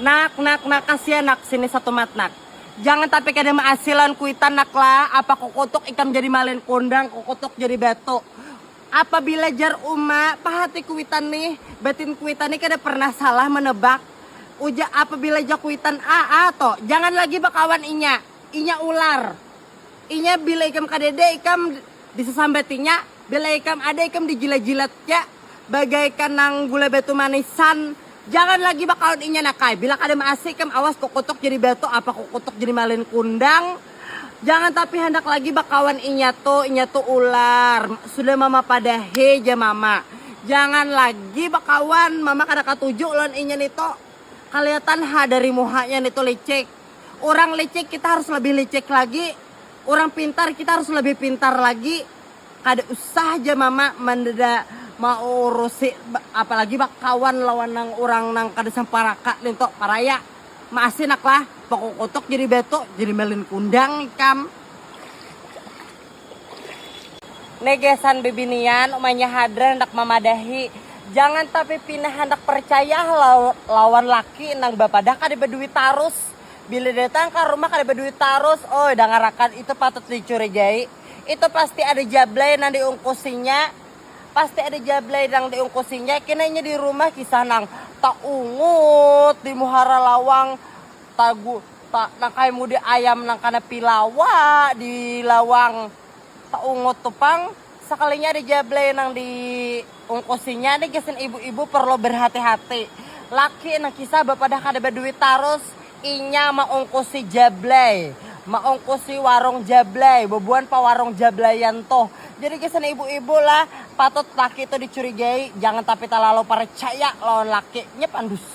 Nak, nak, nak, kasian nak, sini satumat nak. Jangan tapi kada maasilan kuitan nak lah, apa kukutuk ikam jadi malin kundang, kukutuk jadi batu. Apabila jar uma, pahati kuitan nih, batin kuitan nih kada pernah salah menebak. Uja apabila ja kuitan a, a to, jangan lagi bakawan inya, inya ular. Inya bila ikam kadede, ikam. Disasambatinya, bila ikam ada ikam dijilat-jilatnya bagaikan nang gula batu manisan, jangan lagi bakaun inya nak ai, bila kada maasi ikam awas kukutuk jadi batu apa kukutuk jadi malin kundang, jangan tapi handak lagi bakawan inya tu, inya tu ular, sudah mama padahi ja mama, jangan lagi bakawan, mama kada katuju lawan inya nitu, kaliatan ha dari muhanya nitu licik. Urang licik kita harus lebih licik lagi, urang pintar kita harus lebih pintar lagi. Kada usah ja mama mandeda maurusi apalagi bakawan lawan nang urang nang kada samparaka nintu paraya. Maasi naklah, bakukutuk jadi batu, jadi malin kundang ikam. Negesan bibinian, umanya hadran handak mamadahi, jangan tapi pina handak percaya lawan laki nang bapadah kada baduit tarus. Bila datang ka rumah kada baduit tarus, uy dangarakan itu patut dicurigai. Itu pasti ada jablay nang diungkusinya, pasti ada jablay nang diungkusinya. Kena inya di rumah kisah nang taungut di muhara lawang. Tagu, ta, nang kaya mudi ayam nang kana pilawa di lawang saungut tu pang, sakalinya ada jablay nang di ungkusinya ni gasan ibu-ibu parlu barhati-hati, laki nang kisah bapadah kada baduit tarus inya maungkusi jablay, maungkusi warung jablay, bubuhan pawarung jablayan tuh, jadi gasan ibu-ibu lah patut laki tu dicurigai jangan tapi talalu parcaya lawan laki, nya pandus.